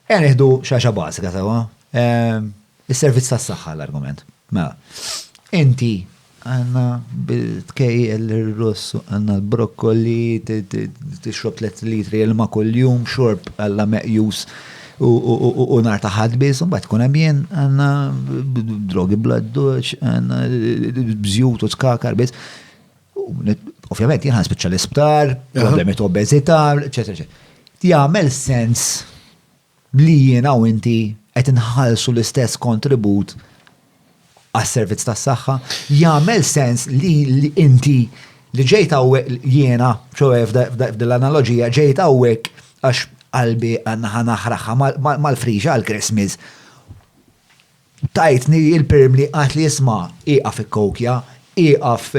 Ejja nieħdu xaxa bażika sewwa. Ehm, is-servizz tas-saħħa l-argument. Mela, inti għanna bil-tkejjel l-russ, għanna l-brokkoli, t-xrob 3 litri il-ma kull-jum, xorb għalla meqjus u nar taħad biz, un bat kunem jien għanna drogi bladduċ, għanna bżjut u skakar biz. Ovvjament jien ħanspiċċa l-isptar, problemi ta' obeżità, eċetera, eċetera. Jagħmel sens li jiena u inti qed inħallsu l-istess kontribut għas-servizz tas-saħħa. Jagħmel sens li inti li ġejt hawnhekk jiena, ċoe f'dil analoġija ġejt hawnhekk għax qalbi għandna ħanaħraħha mal-friġa għal-Christmas. Tajtni il-perm li qalt li isma' ieqaf ikkokja, ieqaf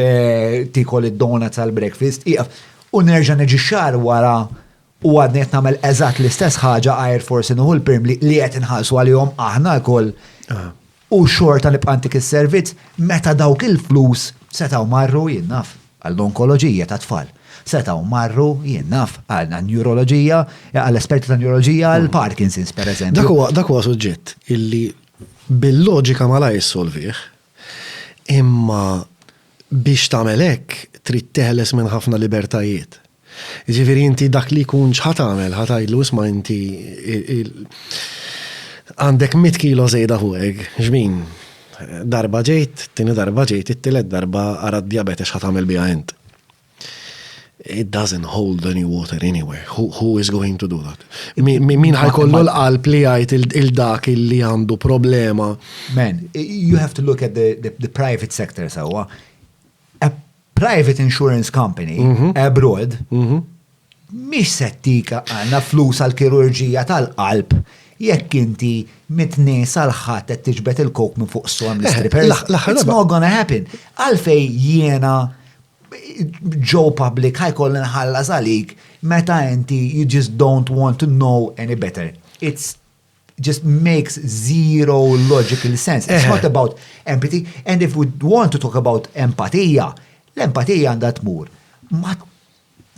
tiekol id-donuts għall-breakfast, ieqaf. U nerġa' niġi xahar wara u għadni qed nagħmel eżatt l-istess ħaġa għajr forsi nieħu l-perm li qed inħallsu għalihom aħna lkoll u xorta nibqa' ntik is-servizz meta dawk il-flus setgħu marru, jien naf. għall-onkoloġija tat-tfal. Setgħu marru, jien naf, għan-newroloġija, għall-esperti tan-newroloġija, għall-Parkinson's, pereżempju. Dak huwa suġġett illi bil-loġika malajr ssolvih, imma biex tagħmel hekk trid teħles minn ħafna libertajiet. Jiġifieri inti dak li jkun x'ħa tagħmel, ħa tgħidlu isma' inti għandek mitt kilo żejda fuqek, xbin? Darba ġejt, it-tieni darba ġejt, it-tielet darba ara d-djabete x'ħa tagħmel biha int. It doesn't hold any water anywhere. Who, who is going to do that? Min ħa jkollu l-qalb li jgħid il dak li għandu problema. Man, you have to look at the, the, the private sector sewwa. Private insurance company mhm. abroad mhm. mhix settika għandna flus għal kirurġija tal-qalb jekk inti mitni sal-ħadd qed tiġbed il-kok minn fuq storm eh, l-stripper. It's not gonna happen. Għalfej jiena ġo public ħajkoll nħallas għalik meta inti you just don't want to know any better. It's just makes zero logical sense. It's not about empathy. And if we want to talk about empatija, l-empatija għandha tmur.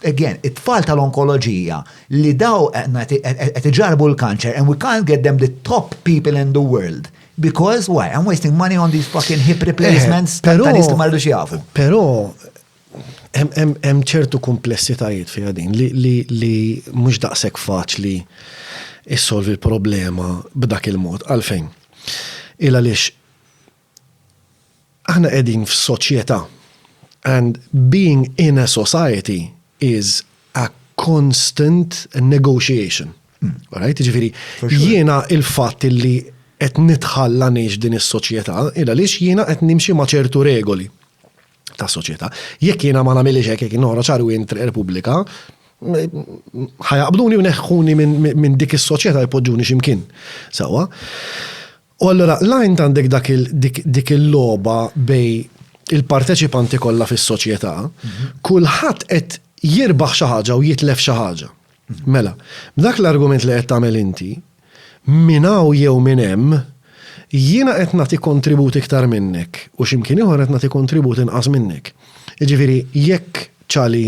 Again, it-tfal tal-onkoloġija li daw qed iġarbu l-kanċer and we can't get them the top people in the world because why? I'm wasting money on these fucking hip replacements tal-istu mardu xiafu. Pero, Hemm ċertu kumplessitajiet fiha din li mhux daqshekk faċli issolvi l-problema b'dak il-mod. Għalfejn? Il għaliex aħna qegħdin f'soċjetà and being in a society is a constant negotiation. Alright? Jiġifieri jiena il-fatt li qed nidħal ngħix din is-soċjetà il għaliex jiena qed nimxi ma' ċertu regoli. ta' soċjetà. Jekk jiena ma nagħmilx hekk, jekk noħroġ għal wint Repubblika, ħajaqbduni u neħħuni minn dik is-soċjetà jpoġġuni x'imkien. Sewwa. U allura l-għajn għandek dik il-logħba bej il-parteċipanti kollha fis-soċjetà, mhm. kulħadd qed jirbaħ xi ħaġa u jitlef xi ħaġa. Mela, b'dak l-argument li qed tagħmel inti, minn hawn jew minn hemm, jiena qed nagħti kontribut iktar minnek u xi mkien ieħor qed nagħti kontribut inqas minnek. Jiġifieri jekk Ċali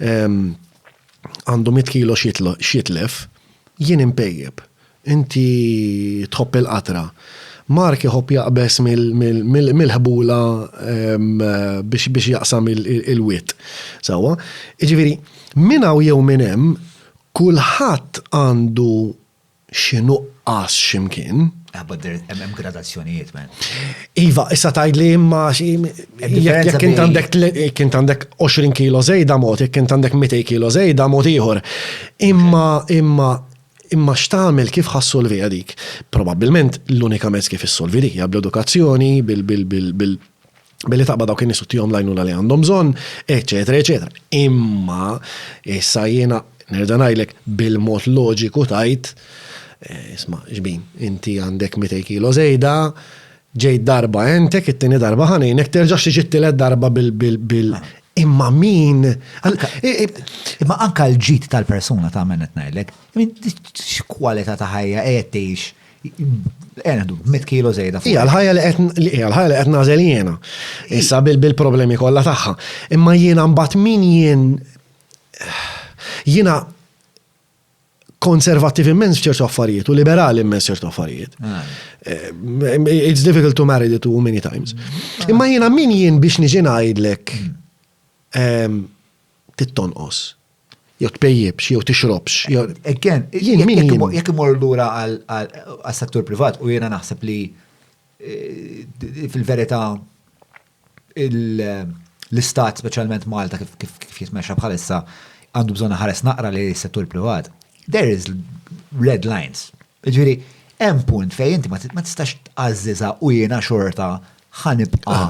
għandu mitt kilo x'jitlef, jien inpejjep, inti tħobb il-qatra, Mark iħobb jaqbeż mill-ħbula biex jaqsam il-wied. Sewwa? Jiġifieri minn hawn jew minn hemm, Kulħadd għandu xi nuqqas x'imkien. Ah but there hemm hemm gradazzjonijiet man. Iva, issa tgħidli imma jekk int għandek jekk int għandek 20 kilo żejda mod, jekk int għandek 200 kilo żejda mod ieħor. Imma imma imma x'tagħmel kif ħassolviha dik? Probabbilment l-unika mezz kif issolvi dik hija bl-edukazzjoni, bil bil bil bil billi taqba dawk in-nies u tihom lajnuna li għandhom bżonn, eċetera, eċetera. Imma issa jiena nerġa' ngħidlek bil-mod loġiku tajt eh, isma' xbin, inti għandek 200 kilo żejda, ġejt darba entek, it-tieni darba ħanejnek, terġax tiġi t-tielet darba bil bil bil imma min imma anka l-ġid tal-persuna ta' men qed ngħidlek, x'kwalità ta' ħajja qed tgħix Enħdu, mit kilo zejda. Ija, l-ħajja li qed ija, l-ħajja li qed nażel jiena. Issa bil-problemi kollha tagħha. Imma jiena mbagħad min jien jiena konservattiv immens f'ċertu affarijiet u liberali immens ċertu affarijiet. Ah. Eh, it's difficult to marry the two many times. Ah. Imma jiena min jien biex niġi ngħidlek hmm. ehm, tittonqos. Jew tpejjipx, jew tixrobx. Again, jekk imorru lura għas-settur privat u jiena naħseb li eh, fil-verità l-istat speċjalment Malta kif jitmexxa bħalissa għandu bżonn ħares naqra li settur privat. There is red lines. Jiġifieri, hemm punt fejn inti ma tistax tgħażżiżha u jiena xorta ħa nibqa'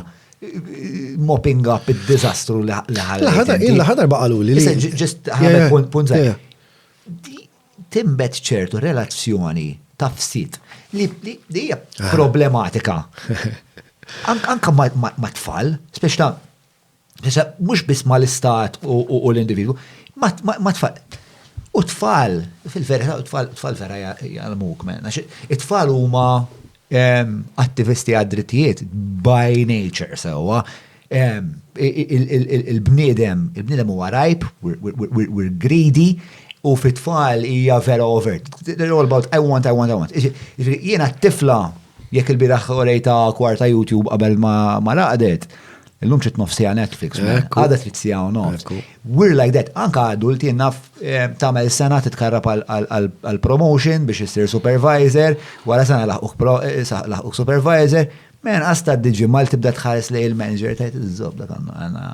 mopping up id-diżastru li ħalli. Jien l-aħħar darba qaluli li. Ġest ħadet punt punt żgħir. Timbet ċertu relazzjoni ta' ftit li hija problematika. Anke ma' tfal, speċta Issa, mhux biss ma l-istat u l-individwu, ma tfal. U tfal, fil-verità, tfal vera jgħalmuk, men. It-tfal huma attivisti għad-drittijiet by nature, sewa. Il-bniedem, il-bniedem huwa rajb, we're greedy, u fit-tfal hija vera overt. They're all about I want, I want, I want. Jiena t-tifla, jekk il-biraħ orejta kwarta YouTube qabel ma laqdet, Illum trid nof sija Netflix, għadet trid sija u nof. We're like that, anka adult jenna eh, tamel sena titkarrab għal-promotion biex jissir supervisor, wara sena eh, laħquk supervisor, men għasta d-diġi mal tibda tħares li il-manager tajt iż-zob dak għanna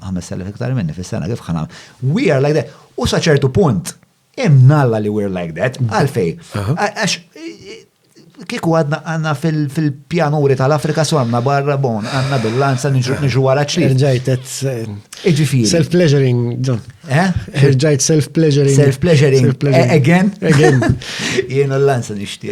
5,000 iktar minni fis-sena kif ħana. We are like that. U saċertu punt, Imnalla li we're like that, għalfej. Għax kiku għadna għanna fil-pjanuri tal-Afrika su għanna barra bon, għanna bil-lanza nġu għara ċli. Irġajt Iġifiri. Self-pleasuring, John. Eh? Irġajt self-pleasuring. Self-pleasuring. Eh, again? Again. Jien l-lanza nishti.